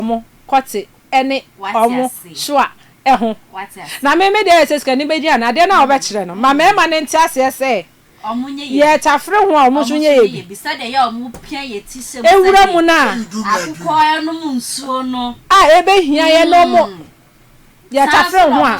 wɔn kɔte ne wɔn soa ho. Na me, me deɛ ayɛ sɛ sikani bɛgye anaa? Adeɛ no a wobɛkyerɛ no, ma mmarima no nte aseɛ sɛ yɛretafere ho a wɔn nso nyɛ yɛ bi. Nwura mu no a a ɛbɛhia yɛn no wɔn yɛtafere ho a.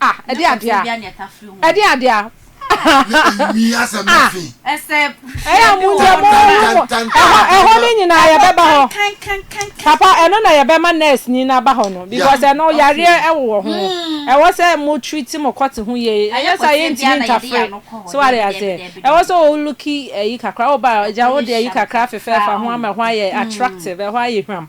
Ah, ɛde adeɛ a. Ɛde adeɛ a. Ɛyɛ a mo nkyɛn mo mo ɛhɔ ɛhɔ ne nyinaa yɛbɛba hɔ. Papa ɛno na yɛbɛma nurse ni na ba hɔ no because ɛno yareɛ ɛwowɔ ho. Ɛwɔ sɛ mo treat mo kɔte ho yie. Ɛnyɛ sɛ yɛntumi ntafere. So wate aseɛ. Ɛwɔ sɛ o looki ɛyi kakra. Woba a gya wode ɛyi kakra afefɛɛfa ho ama ɛhɔ ayɛ attractive, ɛhɔ ayɛ hwam.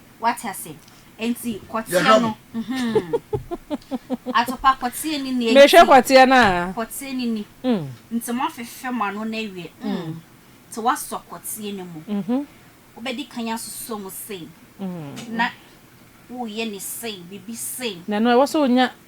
Wate ase? Enti kɔteɛ no, mm-hmm. Atopa, kɔteɛ ni nea enti. Mehwɛ kɔteɛ no a. Kɔteɛ no ni. Mm. Nti moafefe mo ano no awie, mm. mm. Nti woasɔ kɔteɛ no mu. Mm-hmm. Wobɛdi kan asosɔ mu sei. Mm. Na woyɛ ne sei, biribi sei. Na ɛno ɛwɔ sɛ onya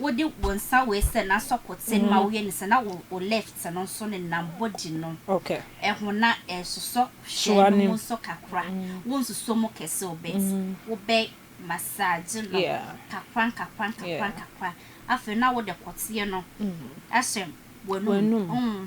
Wode wo nsa wei sɛ na sɔ koten ma woyɛ ne sɛ na wo wo left no nso ne nam body no ɛho na ɛsosɔ hwɛ no mu nso kakra wo nsosɔ mu kɛse o bet wo bɛ massage no kakra nkakra nkakra nkakra afei na wode koteɛ no ahyɛ w'anum mm.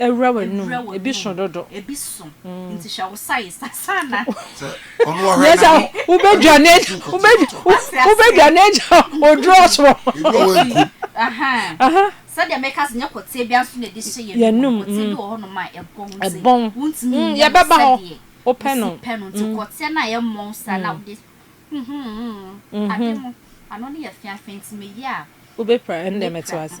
Awura w'anum, ebi so dodo. Nyɛ sɛ wobɛdwane agya oduro so. Yɛnum, ɛbɔn, yɛbɛba hɔ, wopɛ no. Wobɛpira, ɛnde mete wo ase.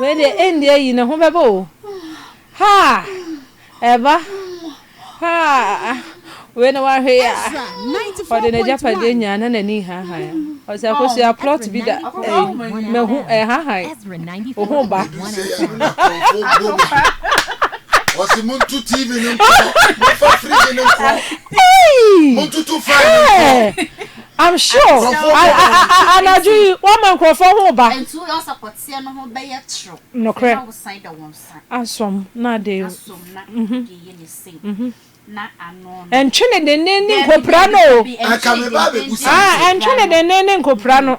Wei deɛ ɛnni ayi ne ho bɛbɔ o haa ɛba haa wei na wahwe ya ɔde n'agyapadeɛ nyaa na n'ani hahan ɔsɛ akosua plot bi da ɛyi mahu ɛhahan ohu ba wɔsi mu ntu tv ne nkɔ mu nfa firiji ne nkɔ mu ntutu fan ne nkɔ. I'm sure anadwo yi wama nkurɔfoɔ ho ba. Nokorɛ. Asom na ade mhm. Ɛntwe ne dennen ne nkopira no o. Ɛntwe ne dennen ne nkopira no.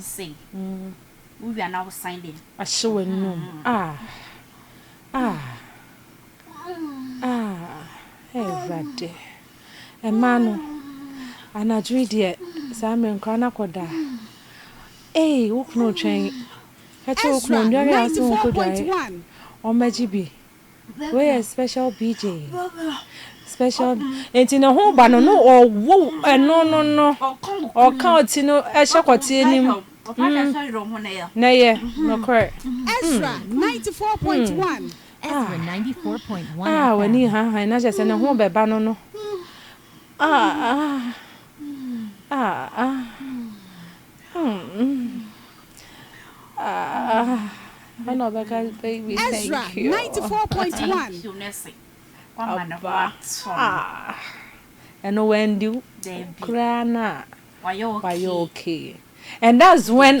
Se wo wia na wo san de. Ahye w'anum ah ah ah eh Awurade. Mmaa no, anadwo yi deɛ saa mmerɛ nkwadaa no akɔda a, ei wo kunu retwɛn. Ka kyerɛ wo kunu ɔnnware a wo se wonkɔdware, ɔmmɛgye bi. Wei yɛ special PJ. Special nti ne ho ba no no ɔwo ɛno no no ɔka ɔti no ɛhyɛ kɔteɛ nim na yɛ nokorɛ. Ezra ninety four point one. Ezra ninety four point one FM. Ah w'ani hanhan na kyerɛ sɛ ne ho bɛba no no ah ah ah ah hmm. Ezra 94.1 ɛno wandi koraa no a wayɛ okay and that's when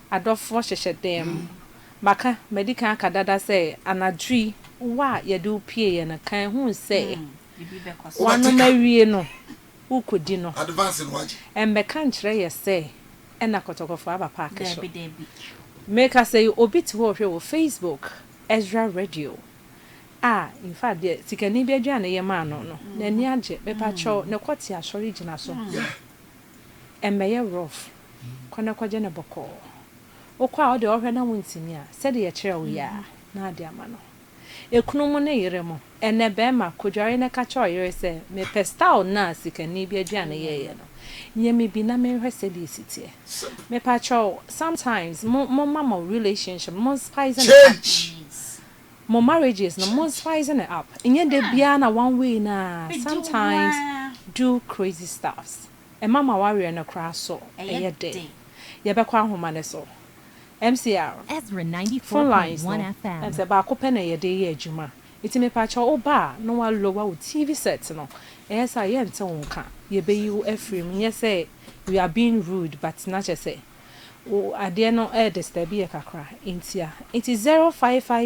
Adɔfoɔ hyehyɛ dan mu. Maka, madi kan aka dada sɛ anadwo yi wo a yɛde wo pieeɛ no, ka ɛho sɛ woanom awie no, worekɔdi no. Ɛmmɛka nkyerɛ yɛ sɛ ɛna kɔtɔkɔfoɔ aba paake so. Merekasa yi, obi te hɔ rehwɛ wɔ Facebook, Ezra Radio, a in fact deɛ sikani bi aduane a yɛmaa no no, n'ani agye. Mepakyɛw, na kɔte asɔre gyina so. Ɛmmɛyɛ rough. Kɔ na kɔgye no bɔkɔɔ. Wokɔ a wo deɛ wɔhwɛ na wontumi a, sɛdeɛ yɛkyerɛɛ wo yi ara na wode ama no. Ekunu mu ne yere mu, Ɛnnɛ barima, kɔdware na ka kyerɛ ɔyere sɛ, Mepɛ style no a sikani bi aduane yɛeɛ no. Yɛ me bi na menhwɛ sɛdeɛ ɛsi teɛ. Mepakyɛw, sometimes mo momma mo relationship no mo spice no up. Mo marriages no mo spice no up. Nyɛ da biara na one way no ara, sometimes do crazy stuffs. Ɛma ma waweɛ no koraa so yɛ den. Yɛbɛkɔ ahoma no so. MCR, Phone lines no, ɛne sɛ baako pɛ na yɛde yɛ adwuma. Nti mepakyɛw wo ba a na wa lower wo TV set no, ɛyɛ sɛ a yɛnte wo nka. Yɛbɛyi wo afiri mu. Nyɛ sɛ we are being rude but na kyerɛ sɛ wo adeɛ no ɛredisturb yɛ kakra. Nti a. Nti zero five five.